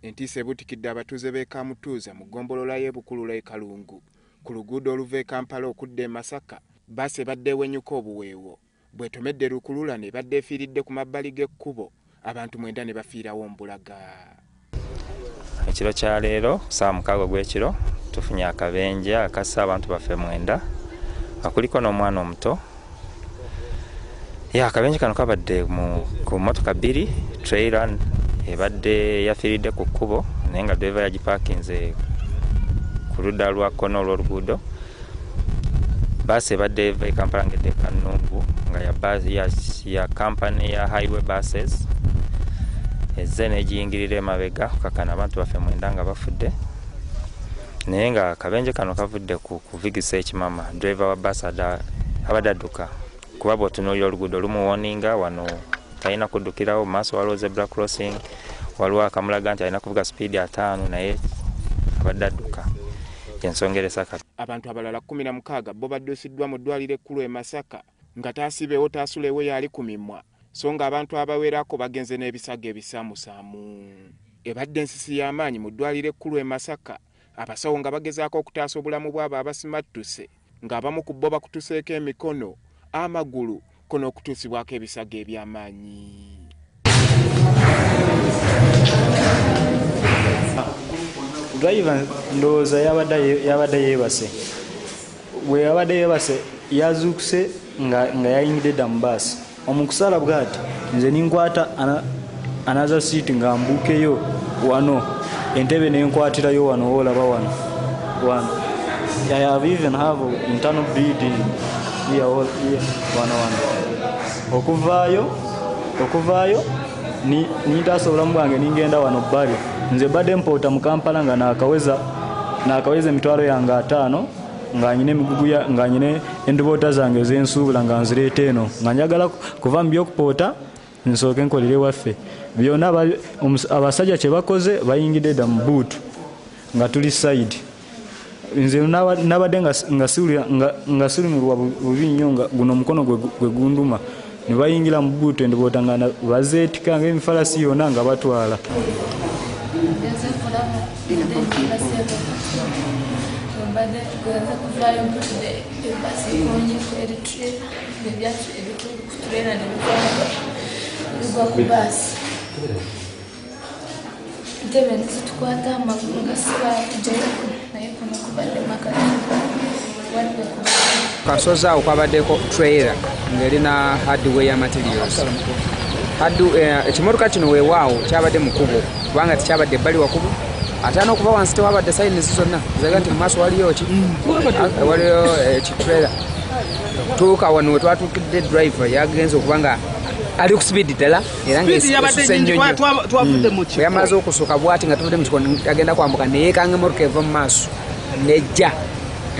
Entiisa ebuutikidde abatuuze b'e Kamutuuza mu ggombolola y'e Bukulula e Kalungu ku luguudo oluva e Kampala okudda e Masaka, bbaasi ebadde ewenyuka obuweewo bw'etomedde lukululana ebadde efiiridde ku mabbali g'ekkubo abantu mwenda ne bafiirawo mbulaga. Ekiro kya leero ku ssaawa mukaaga ogw'ekiro tufunye akabenje akasse abantu baffe mwenda nga kuliko n'omwana omuto. ya akabenje kano kabadde ku motoka bbiri trailer ebadde yafiiridde ku kkubo naye nga driva yagipaakinze ku ludda lwa kkono olw'oluguudo baasi ebadde eva ekampala ngedde kanungu nga ya kampani ya highway buses ezze negiyingirira emabega kakana abantu baffe mwenda nga bafudde naye nga akabenje kano kavudde ku kuvigisa ekimama driver wa bus abadde adduka kuba bwotunuulira oluguudo lumuwoninga wano talina kuddukirawo maaso waliwo zebra crossing waliwo akamulaga nti alina kuvuga sipiidi ataano naye abadde adduka yensongeresa kati abantu abalala kumi na mukaaga bo baddusiddwa mu ddwaliro ekkulu e masaka nga taasibewo taasulewo y'ali ku mimwa so ng'abantu abawerako bagenze n'ebisago ebisaamusaamu. Ebadde nsisi ya maanyi mu ddwaaliro ekkulu e Masaka abasawo nga bagezaako okutaasa obulamu bw'abo abasimattuse ng'abamu ku bbo bakutuseeko emikono, amagulu kko n'okutuusibwako ebisago eby'amaanyi. driver ndowooza yabadde yeebase bwe yabadde yeebase yazuukuse nga yayingidde dda mu baasi omukusaala bwati nze ninkwata anaza siiti nga mbuukeyo wano entebe nenkwatirayo wano woolaba wano wano i have even have internal bleeding wano wano okuvaayo okuvaayo nintaasa obulamu bwange ningenda wano bbali nze badde mpoota mu kampala nga nakaweza nakaweza emitwalo yange ataano nganyina emigugu nganyina enduboota zange ezensuubula nga nzireeta eno nga njagala kuva mu byokupoota nsooke nkolere waffe byona abasajja kyebakoze bayingidde dda mu buutu nga tuli side nze nabadde nga silumirwa bubi nnyo nga guno omukono gwe gunduma ne bayingira mu buutu endiboota nga bazeetika ngaemifalasi yonna nga batwala Thank you. ntebe nezitukwata amagulu nga sibala tujayoku naye kuno kubadde makati wadde ku kasozi awo kwabaddeko trailer ngeri na hardware materials eh, ekimotoka kino wewaawo kyabadde mukubo kubanga tekyabadde ebbali wakubo ate anokuba wansi tewabadde sayinizi zonna zaga nti mumaaso waliyo ki mm. ah, waliyo eh, ekitrailer tuuka wano wetwatukidde driver yagenze okuba nga ali ku speed ddala sipiidi yabadde nyingi kuba twavudde mu kiko yamaze okusooka bwati nga tuvudde mu kiko agenda kwambuka neyekanga emotoka eva mu maaso nejja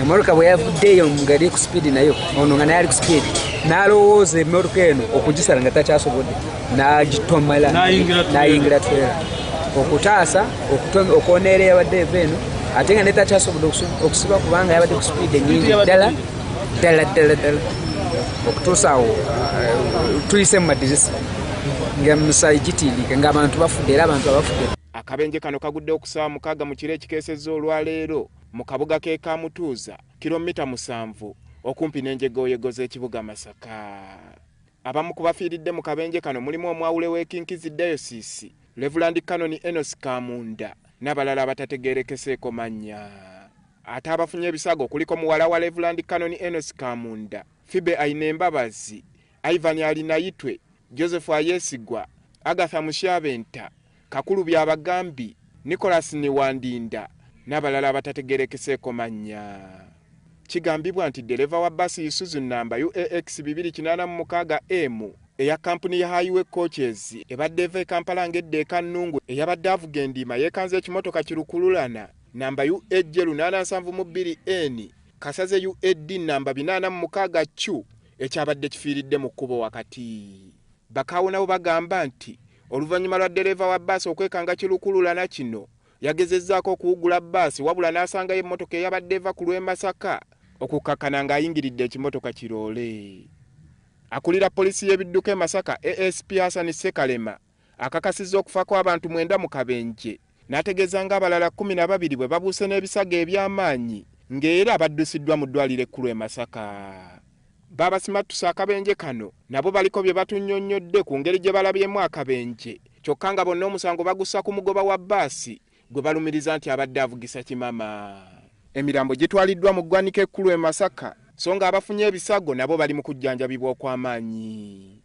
emotoka bwe yavuddeeyo ngeri ku sipiidi nayo ono nga naye ali ku sipiidi n'alowooza emotoka eno okugisala nga takyasobodde n'agitomala n'ayingira twera okutaasa okwoneera yabadde eva eno ate nga netakyasobodde okusiba kubanga yabadde ku sipiidi enyingi ddala ddala ddala ddala okutuusa awo uh, tuyise mu madirisa nga musaayi gitiirike ng'abantu bafudde era abantu abafudde akabenje kano kagudde okusaawa mukaaga mu kiro ekikeesezza olwaleero mu kabuga k'e kamutuuza kilomita musanvu okumpi n'enjegooyego z'ekibuga masaka abamu ku bafiiridde mu kabenje kano mulimu omwawule w'ekinkizi dayosiisi levulandi kanoni enos kamunda n'abalala abatategeerekeseeko mannya Ate abafunye ebisago kuliko muwala wa Levulandi Kanoni Enosi Kamunda, Fibe Ainembabazi, Ivan Arinayitwe, Joseph Ayesigwa, Agatha Musyabenta, Kakuru Byabagambi, Nicholas Niwandinda n'abalala abatategeerekeseeko mannya. Kigambibwa nti ddereeva wa bbaasi Isuzu nnamba UAX bibiri kinaana mu mukaaga M eya kkampuni ya Highway Coaches ebadde eva e Kampala ng'edda e Kannungu eyabadde avuga endiima yeekanze ekimotoka ki lukululana namba UAJ lunaana nsanvu mu bbiri N, Kasaze UAD namba binaana mu mukaaga Q ekyabadde kifiiridde mu kkubo wakati. Bakaawo nabo bagamba nti oluvannyuma lwa ddereeva wa bbaasi okwekanga kilukululana kino, yagezezzaako okuwugula bbaasi wabula n'asangayo emmotoka eyabadde eva ku lw'e Masaka okukkakkana ng'ayingiridde ekimotoka ki loole. Akulira poliisi y'ebidduka e Masaka, ASP Hassan Ssekalema, akakasizza okufa kw'abantu mwenda mu kabenje n'ategeeza nga abalala kkumi na babiri bwe babuuse n'ebisago eby'amaanyi nga era baddusiddwa mu ddwaliro ekkulu e Masaka. Baabasimattuse akabenje kano nabo baliko bye batunyonnyodde ku ngeri gye balabyemu akabenje kyokka nga bonna omusango bagussa ku mugoba wa bbaasi gwe balumiriza nti abadde avugisa kimama. Emirambo gitwaliddwa mu ggwanika ekkulu e Masaka so nga abafunye ebisago nabo bali mu kujjanjabibwa okw'amaanyi.